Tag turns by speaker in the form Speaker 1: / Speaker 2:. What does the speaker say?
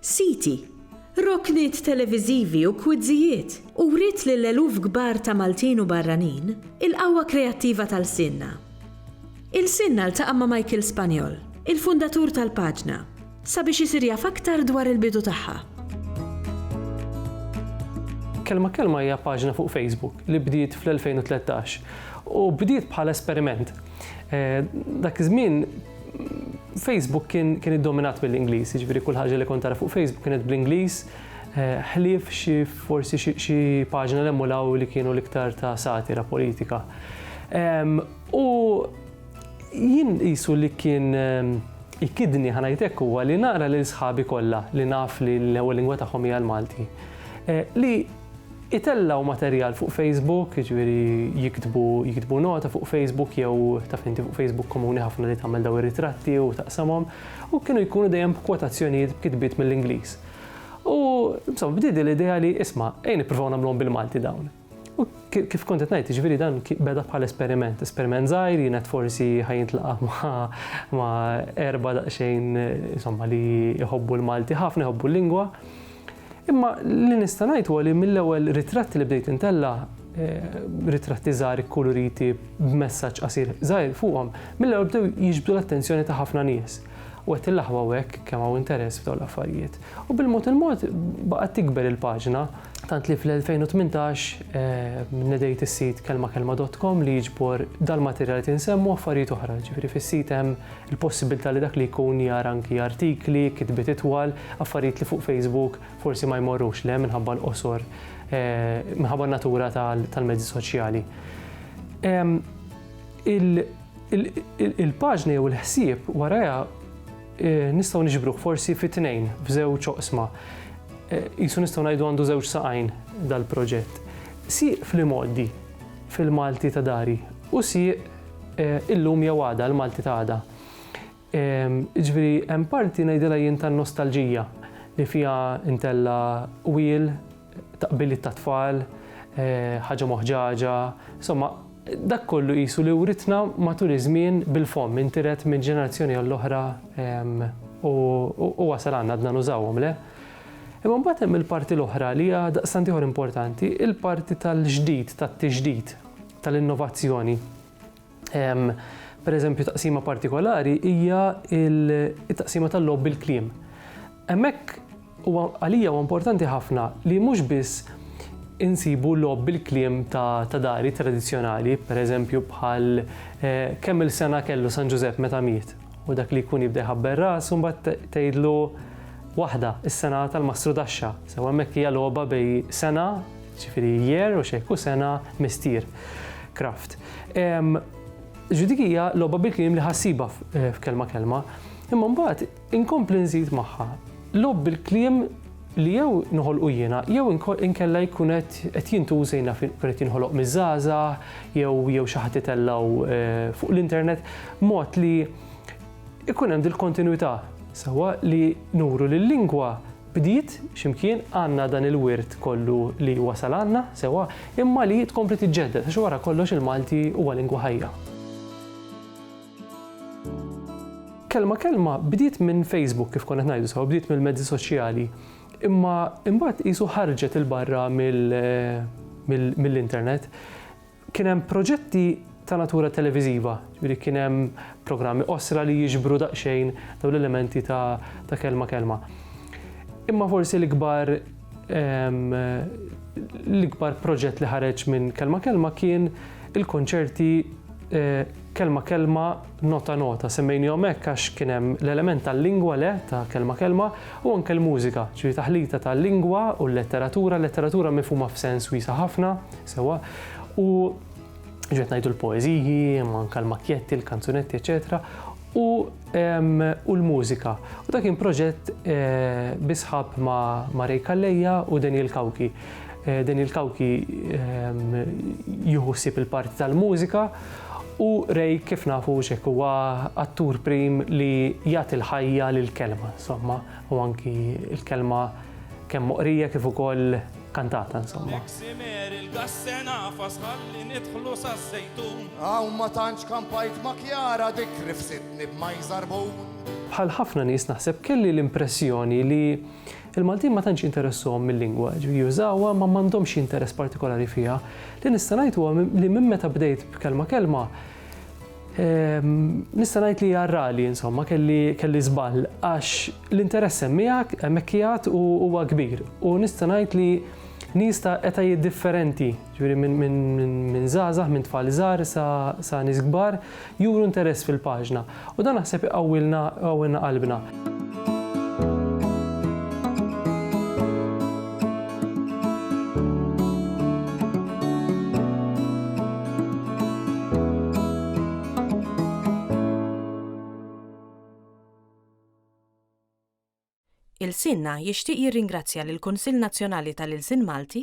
Speaker 1: siti, rokniet televiżivi u kwizzijiet, u wriet lil eluf kbar ta' Maltin u barranin il-qawwa kreattiva ta' lsienna. Ilsienna ltaqa' ma' Michael Spagnol, il-fundatur tal-paġna, sabiex isir jaf aktar dwar il-bidu tagħha.
Speaker 2: Kelma Kelma hija paġna fuq Facebook li bdiet fl-2013 u bdiet bħala esperiment. Dak iż-żmien, Facebook kien kien iddominat mill-Ingliż, jiġifieri kull ħaġa li kont tara fuq Facebook kienet bl-Ingliż, eh, ħlief xi forsi xi paġna li emulaw li kienu l-iktar ta' satira politika. U jien qisu li kien ikidni ħanajtek huwa li nara lil sħabi kollha li naf li l-ewwel lingwa tagħhom hija l-Malti. Eh, li Itellgħu materjal fuq Facebook, jiġifieri jiktbu jiktbu nota fuq Facebook jew taf inti fuq Facebook komuni ħafna li tagħmel daw ir-ritratti u taqsamhom u kienu jkunu dejjem b'kwotazzjonijiet b'kitbiet mill-Ingliż. U insomma bdiedi l-idea li isma' ejn nippruvaw nagħmluhom bil-Malti dawn. U kif kont qed ngħid, jiġifieri dan beda bħala esperiment, esperiment żgħir, jien qed forsi ħajintlaqa' ma' erba' daqsxejn insomma li jħobbu l-Malti ħafna, jħobbu l-lingwa. Imma li nista' ngħid huwa li mill-ewwel ritratti li bdejt intella' eh, ritratti żgħar ikkuluriti b'messaġġ qasir żgħir fuqhom, mill-ewwel bdew jiġbdu l-attenzjoni ta' ħafna nies. U qed il-laħwa hekk kemm hawn interess f'dawn l-affarijiet. U bil-mod il-mod baqgħet tikber il-paġna tant li fl-2018 eh, nedejt is-sit kelmakelma.com li jiġbor dal-materjal li tinsemmu affarijiet oħra, ġifieri fis-sit hemm il-possibilità li dak li jkun jara anki artikli, kitbiet itwal, affarijiet li fuq Facebook forsi ma jmorrux le minħabba l-qosor, minħabba n-natura tal-mezzi soċjali. Il-paġna jew il-ħsieb waraja nistgħu niġbruh forsi fi tnejn f'żewġ oqsma. Jisu nistgħu ngħidu għandu żewġ saqajn dal-proġett. Sieq fl-imoddi fil-Malti ta' dari u sieq Illum jew għada, l-Malti ta' għada. Jiġifieri hemm parti ngħidilha jien tan-nostalġija li fiha ntella' qwiel, taqbiliet tat-tfal, ħaġa moħġaġa, insomma dak kollu qisu li writna matul iż-żmien bil-fomm, intiret minn ġenerazzjoni għall-oħra u wasal għandna għadna nużawhom, le? Imma mbagħad hemm il-parti l-oħra li hija daqstant ieħor importanti, il-parti tal-ġdid, tat-tiġdid. tal-innovazzjoni. Pereżempju, taqsima partikolari hija t-taqsima tal-logħob bil-kliem. Hemmhekk huwa għalija huwa importanti ħafna li mhux biss insibu logħob bil-kliem ta' dari tradizzjonali, pereżempju bħal eh, kemm il-sena kellu San Ġużepp meta miet u dak li jkun jibda jħabber ras u mbagħad tgħidlu waħda is-sena tal-mastru daxxa. Sew hemmhekk hija logħba bej sena Ġifieri year u xejk u sena mistier. Kraft. Ġifieri dik hija logħba bil-kliem li ħassibha f'kelma kelma. Imma mbagħad inkompli nżid magħha logħob bil-kliem li jew noħolqu jiena jew inkella jkun qed jintuża jiena jkun qed jinħoloq miż-żgħażagħ jew xi ħadd itellgħu fuq l-internet mod li jkun hemm dil-kontinwità sewwa li nuru li l-lingwa bdiet x'imkien, għandna dan il-wirt kollu li wasal għandna sewwa, imma li tkompli tiġġedded għax wara kollox il-Malti huwa lingwa ħajja. Kelma kelma bdiet minn Facebook kif konna qed ngħidu sewwa, bdiet mill-mezzi soċjali, imma imbagħad qisu ħarġet 'il barra mill-internet. Kien hemm proġetti ta' natura televiżiva, jiġifieri kien hemm programmi qosra li jiġbru daqsxejn dawn l-elementi ta' ta' kelma kelma. Imma forsi l-ikbar ehm, l-ikbar proġett li ħareġ minn kelma kelma kien il-konċerti eh, kelma kelma Nota nota, semmejnihom hekk għax kien hemm l-element tal-lingwa le, ta' kelma kelma, u anke l-mużika, ġifieri taħlita ta' lingwa u l-letteratura, letteratura mifhuma f'sens wiesa' ħafna, sewwa, u ġifieri qed ngħidu l-poeżiji, imma anke l-makjetti, l-kanzunetti, eċċetera, u u l-mużika. U dak kien proġett bi sħab ma' Ray Calleja u Daniel Cauchi. Daniel Cauchi jieħu ħsieb il-parti tal-mużika, U Ray kif nafu hux hekk huwa attur prim li jagħti l-ħajja lill-kelma, insomma, u anki l-kelma kemm moqrija kif ukoll kantata, insomma. L-eksimer, il-gassena, fasħalli nidħlu
Speaker 3: saz-zejtun. Hawn ma tantx kampajt ma' Kjara dik rifsitni b'majżarbun. Bħal ħafna
Speaker 2: nies naħseb kelli l-impressjoni li Il-Maltin ma tantx jinteressahom mil-lingwa, jiġifieri jużawha imma m'għandhomx xi interess partikolari fiha. Li nista' ngħid huwa li minn meta bdejt b'Kelma Kelma, nista' ngħid li hija rali insomma kelli kelli żball għax l-interess hemm miegħek, hemmhekk qiegħed u huwa kbir u nista' ngħid li nies ta' etajiet differenti, Jiġifieri minn żgħażagħ, minn tfal żgħar sa nies kbar juru interess fil-paġna u dan naħseb iqawwilna iqawwilna qalbna.
Speaker 4: Ilsienna jixtieq jirringrazzja lill-Kunsill Nazzjonali tal-Ilsien Malti,